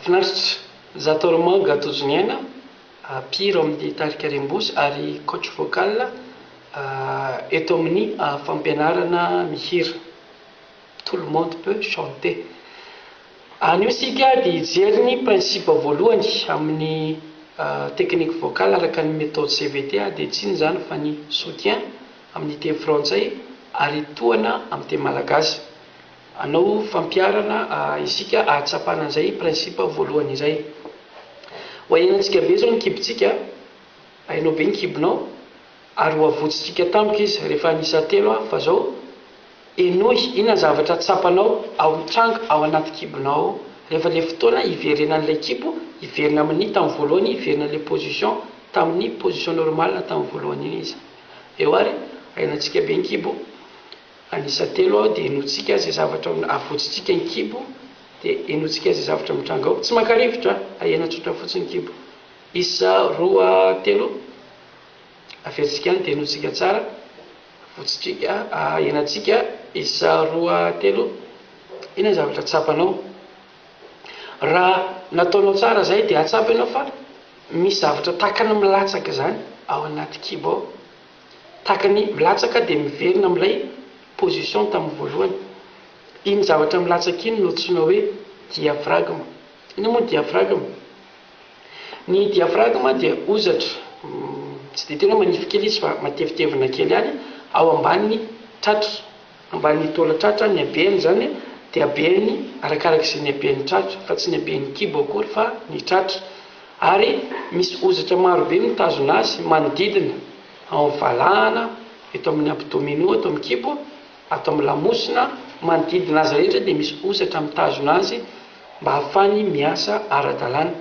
Finaritra, Zatormand Gatojoniaina, mpihira ao amin'ny tarika Rembosy ary coach vocal eto amin'ny fampianarana mihira. Tout le monde peut chanter. Anio isika dia hijery ny principe voalohany amin'ny technique vocal araka ny méthode CVT dia tsy inona izany fa ny soutien amin'ny teny frantsay ary tohana amin'ny teny malagasy. Hanao fampiharana isika ahatsapana an'izay principe voalohany izay. Ho ahenantsika be izao ny kibontsika, hainao be ny kibonao, ary ho avotsintsika tampoka izy rehefa hanisa telo aho, fa izao, henoy inona zavatra tsapanao ao mitranga ao anaty kibonao ao, rehefa ilay fotoana hiverenan'ilay kibo hiverina amin'ny tamin'ny voalohany, hiverina ilay position tamin'ny position normale tamin'ny voalohany iny izy. Eo ary, ahenantsika be ny kibo. An'isa telo aho dia henointsika izay zavatra avotsintsika an-kibo dia henointsika izay zavatra mitranga ao. Tsy mankarivotro an! Ahena tsotra fotsiny ny kibo. Isa roa, telo, averintsika any dia henointsika tsara, avotsintsika, ahenantsika. Isa roa, telo, inona ny zavatra tsapanao? Raha nataonao tsara izay dia hahatsapa ianao fa misy zavatra tahaka ny milatsaka izany ao anaty kibo ao. Tahaka ny milatsaka dia miverina amin'ilay position tamin'ny voalohany. Iny zavatra milatsaka iny no antsoina hoe diafragme. Inona moa ny diafragme? Ny diafragme dia hozatra, tsy dia tena manify kely izy fa matevitevina kely ihany, ao ambanin'ny tratra. Ambany taola tratra ny habeny izany dia habeny arakaraka izay ny haben'ny tratra fa tsy ny haben'ny kibo akory fa ny tratra ary misy ozatra marobe mitazona azy manodidina ao amin'ny valahana, eto amin'ny abdominaux eto amin'ny kibo, ato amin'ny lamosina, manodidina azy rehetra dia misy ozatra mitazona azy mba hahafany miasa ara-dalàna.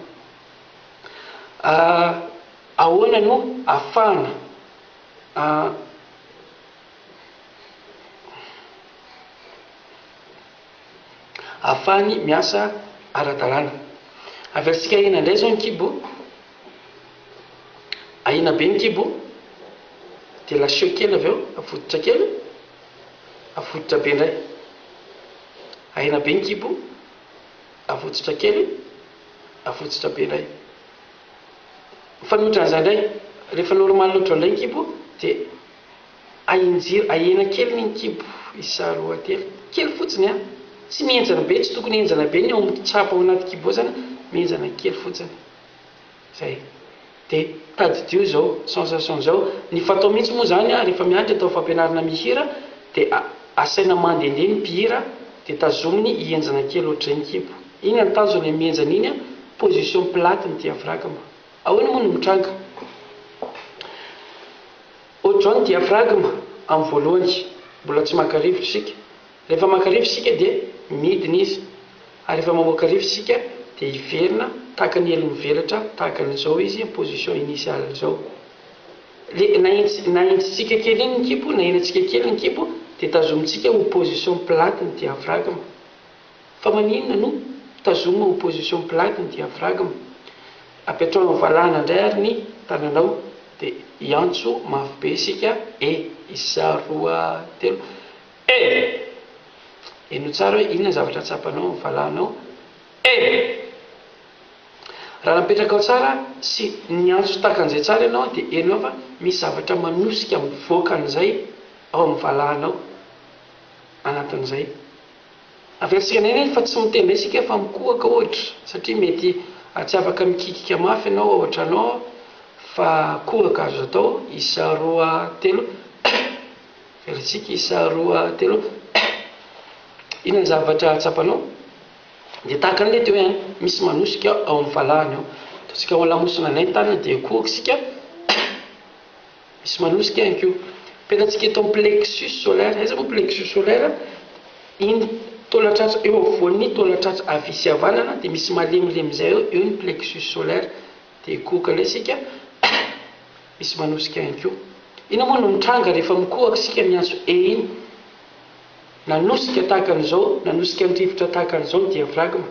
Ahoana no ahafahana ahafahany miasa ara-dalàna. Avy amintsika ahiana indray izao ny kibo, ahiana be ny kibo, dia lasiho kely avy eo, avototra kely, avototra be indray. Ahiana be ny kibo, avototra kely, avototra be indray. Mifanohitra an'izay indray, rehefa normal loatra indray ny kibo dia Ahin jiro ahena kely min kibo isa roa telo kely fotsiny a tsy mihenjana be tsy tokony henjana be ny ao amin tsapa ao anaty kibo ao zany mihenjana kely fotsiny zay de tadidio zao sensation zao ny fatao mintsy moa zany a refa miantra atao fampianarana mihira de asaina mandende ny mpihira de tazominy hihenjana kely ohatr'izay ny kibo iny an tanjona mihenjana iny a position plate ny diafragme. Ahoana moa no mitranga? Ohatran'ny diaphragme amin'ny voalohany, mbola tsy maka rivotra isika. Rehefa maka rivotra isika dia midina izy, ary rehefa mamoaka rivotra isika dia hiverina tahaka ny elo mivelatra tahaka an'izao izy amin'ny position initiale izao. Ilay nahin- nahinjitsika kely iny ny kibo, nahenantsika kely ny kibo dia tazomintsika ho position plate ny diaphragme. Fa maninona no tazomina opposition blague ny diavragm? Apetraho valahana ndray ary ny tananao de hiantso mafy be isika e! Isa, roa, telo, eh! Henoy tsara hoe inona ny zavatra tsapanao amin'ny valahanao eh! Raha napetrakao tsara sy niantso tahaka an'izay tsara ianao dia henoy fa misy zavatra manosika mivoaka an'izay ao amin'ny valahanao anatin'izay. Averintsika indray anie fa tsy mitendry isika fa mikohaka ohatra satria mety tsy afaka mikikika mafy ianao ao an-trano ao fa kohaka azo atao isa roa telo Averintsika isa roa telo Inona ny zavatra tsapanao? Dia tahaka ny mety hoe misy manosika ao amin'ny valahany ao. Ataontsika ao an-lamosina indray ny tanana dia kohaka isika. Misy manosika ihany koa. Pelantsika eto amin'ny plexus solaire. Aiza moa plexus solaire? Iny taolan-tratra eo afovoan'ny taolan-tratra havia sy havanana dia misy malemilemy izay eo, eo ny plexus solaire. Dia kohoka indray isika. Misy manosika ihany koa. Inona moa no mitranga rehefa mikohaka isika miantso E iny? nanosika tahaka an'izao, nanosika an-drivotra tahaka an'izao ny diafragma.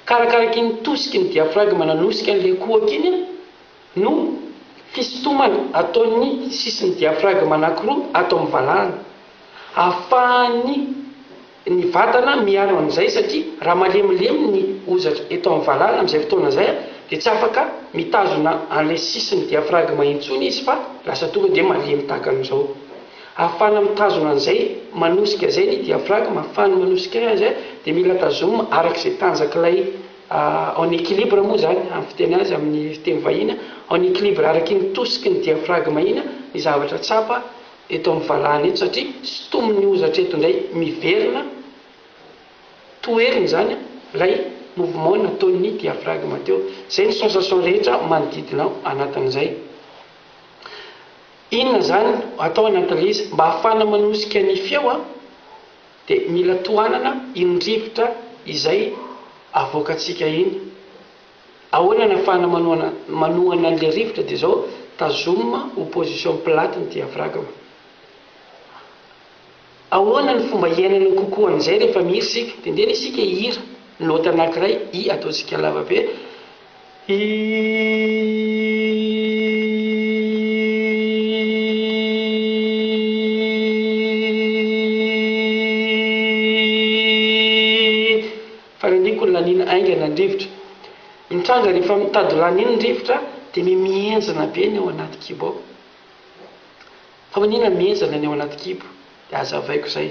Ka arakaraky iny tosiky ny diafragma nanosika an'ilay kohaka iny no fisintomana ataon'ny sisin'ny diafragma anankiroa ato amin'ny valahana, ahafahan'ny. ny vatana miaro an'izay satria raha malemilemy ny hozatra eto amin'ny valala amin'izay fotoana izay dia tsy afaka mitazona an'ilay sisin'ny diaphragme intsony izy fa lasa tonga dia malemy tahaka an'izao. Ahafahana mitazona an'izay manosika izay ny diaphragme, ahafahany manosika azy dia mila tazomina araka izay tanjak'ilay en équilibre moa izany amin'ny fiteny azy amin'ny fiteny vahiny, en équilibre araka iny tosiky ny diaphragme iny ny zavatra tsapa. eto amin'ny valahana eto satria sintomin'ny hozatra eto indray miverina toheriny izany ilay mouvement nataon'ny diaphragme teo. Izay ny sensation rehetra manodidina ao anatin'izay. Inona izany atao anatin'ilay izy? Mba hahafahana manosika ny feo dia mila tohanana iny rivotra izay avoakantsika iny. Ahoana ny afahana manohana manohana an'ilay rivotra dia zao tazomina ho position plate ny diafragme. Ahoana ny fomba hiainana kokoa an'izay rehefa mihira isika? Tendrena isika hihira nota anankiray i ataontsika lava be i. Faniriako ny laniana haingana ny rivotra. Mitranga rehefa mitady ho laniana ny rivotra dia mi mihenjana be ny ao anaty kibo ao. Fa manina mihenjana ny ao anaty kibo? Dia hazavaiko izay.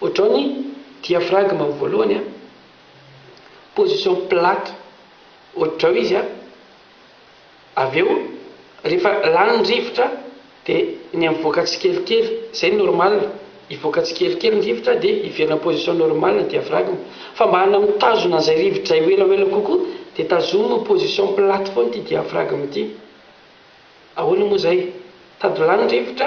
Ohatrao ny diaphragme voalohany an. Position plate. Ohatrao izy an. Avy eo rehefa lany ny rivotra de ny mivoaka tsikelikely zay normal hivoaka tsikelikely ny rivotra de hiverina am position normal ny diaphragme fa mba hana mitazona an'izay rivotra izay ho ela ho ela kokoa de tazomy position plate foana ity diaphragme ity ahoana moa izay tadilany ny rivotra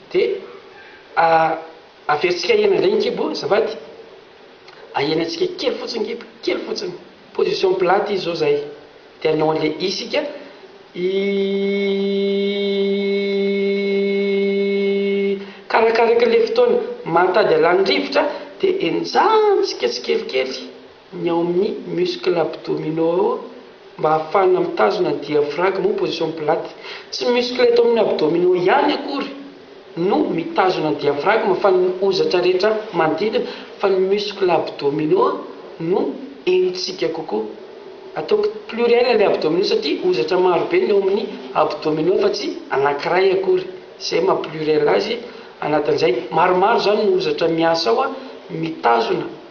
Dia averintsika ahena indray ny kibo azafady, ahena antsika kely fotsiny kibo, kely fotsiny, position plate izy zao zay, dia anao anle i isika i karakaraky le fotoana mahatady alany rivotra dia enjantsika tsikelikely. ny ao amin'ny muscle abdominaux mba ahafahana mitazona ny diaphragme ao position plate. Tsy ny muscle eto amin'ny abdominaux ihany akory no mitazona ny diaphragme fa ny hozatra rehetra manodidina fa ny muscle abdominaux no henontsika kokoa. Ataoko pluriel ilay abdominaux satria hozatra maro be ny ao amin'ny abdominaux fa tsy anankiray akory. Izay maha pluriel azy anatin'izay. Maromaro izany no hozatra miasa ao mitazona.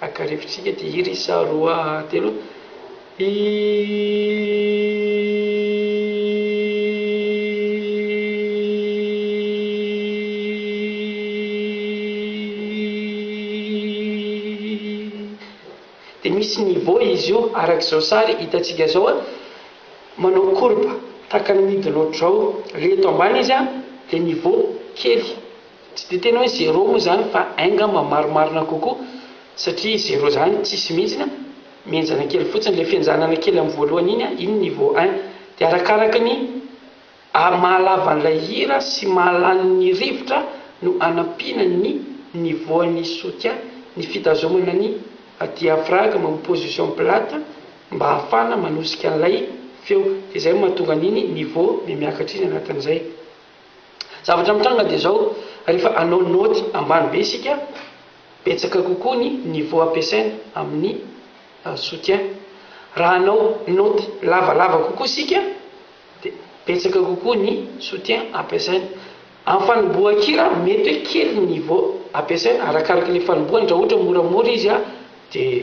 Haka rivotsika ity hira isa roa telo dia misy niveau izy io araka izao sary hitantsika izao a manao courbe tahaka ny midin'ohatrizao reto ambany izy a dia niveau kely Tsy dia tena hoe zéro moa izany fa un ngamba marimarina kokoa satria zéro izany tsisy mihitsy an, mihenjana kely fotsiny, ilay fihenjanana kely amin'ny voalohany iny an, iny niveau un. Dia arakaraka ny mahalavan'ilay hira sy mahalan'ny rivotra no anampiana ny niveau-n'ny soutien, ny fitazomana ny diaphragme amin'ny position plate mba ahafahana manosika an'ilay feo. Dia izay no mahatonga an'iny niveau mihamiakatra iny anatin'izay. Zavatra mitranga dia izao, rehefa hanao naoty ambany be isika, betsaka kokoa ny niveau ampiasaina amin'ny soutien. Raha hanao naoty lavalava kokoa isika, dia betsaka kokoa ny soutien ampiasaina. Amin'ny fanombohan-kira, mety hoe kely ny niveau ampiasaina, arakaraka ilay fanombohany, raha ohatra moramora izy dia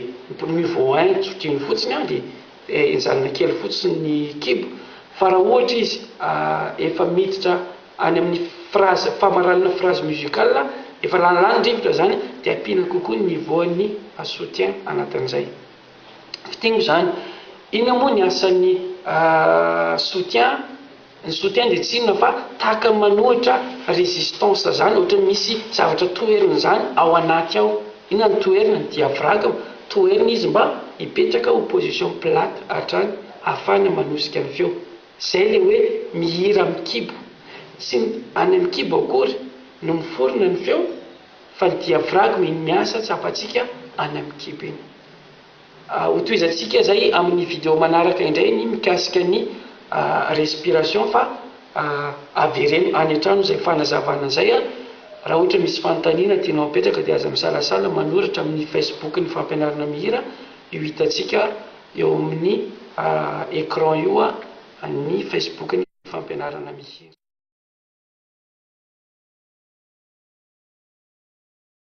niveau un zotr'iny fotsiny dia. Dia nijanona kely fotsiny ny kibo, fa raha ohatra izy efa miditra any amin'ny phrase, famaranana phrase musical, efa laninlanin'ny rivotra izany, dia ampiana kokoa ny niveau-n'ny soutien anatin'izay. Fintiniko izany, inona moa ny asan'ny soutien? Ny soutien dia tsy inona fa tahaka ny manohitra résistance zany, ohatran'ny misy zavatra toherina zany ao anaty ao, inona no toherina? ny diaphragme, toherina izy mba hipetraka ho position plate hatrany ahafahana manosika ny feo, zay ilay hoe mihira amin'ny kibo, tsy ny any amin'ny kibo akory no miforona ny feo fa ny diaphragme iny miasa tsapantsika any amin'ny kibo iny. Hotohizantsika izay amin'ny video manaraka indray ny mikasika ny respiration fa avereno any an-trano izay fanazavana izay. Raha ohatra misy fanontaniana tianao apetraka dia aza misalasala manoratra amin'ny Facebook ny fampianarana mihira io hitantsika eo amin'ny écran io ny Facebook ny fampianarana mihira.